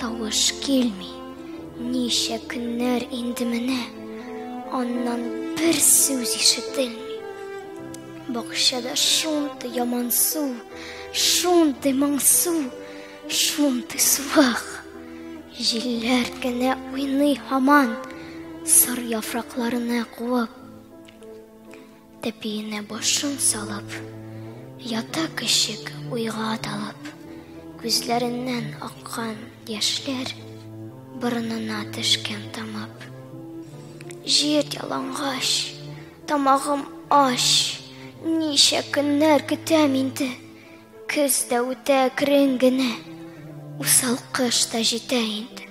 Тавыш килми. Ничә көннәр инде менә. Аннан бер сүз ишетелми. Бакчада шунты яман су, шунты моңсу, шунты суах. Җилләр генә уйный һаман, сар яфракларына куып. Тәпиенә башын салып, ята кешек уйга талып, күзләреннән аккан яшьләр борынына төшкән тамып. Җир ялангач, тамагым аш, ничә көннәр көтәм инде. Көз дә үтә әкрен генә, усал кыш та җитә инде.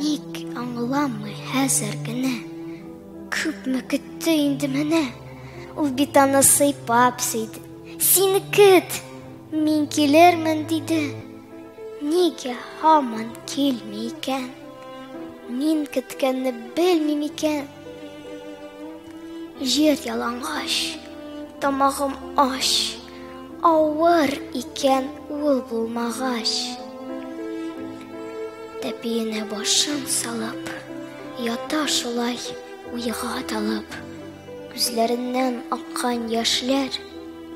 Ник аңламый хәзер генә, күпме көтте инде менә. Ул бит аны сыйпап сөйде. Син көт, мин килермен диде. Нигә һаман килми икән? Мин көткәнне белмим икән. Җир ялангач, тамагым аш. Авыр икән ул булмагач Тәпиенә башын салып Ята шулай уйга талып Күзләреннән аккан яшьләр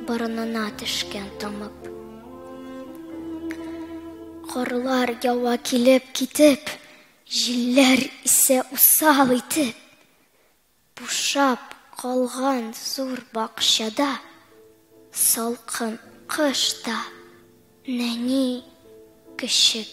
Борынына төшкән тамып Корлар ява килеп китеп Җилләр исә усал итеп Бушап калган зур бакчада, Салкын кыш та, нәни көчек.